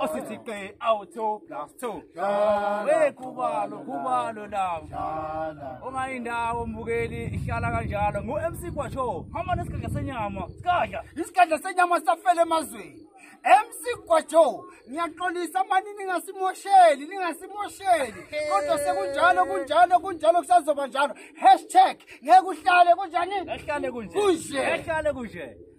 osisiqe awu-two plus two we khubalo khubalo lawo ongayindawo mbukeli ihlala kanjalo ngu-mc gwasho hamba nesikadla senyama sikadla isikadla senyama safela emazweni MC Gwajo ngiyaxolisa mani ningasimosheli ningasimosheli kodwa sekunjalo kunjalo kunjalo kusazoba njalo hashtag ngeke uhlale kunjani ehlale kunje kunje ehlale kunje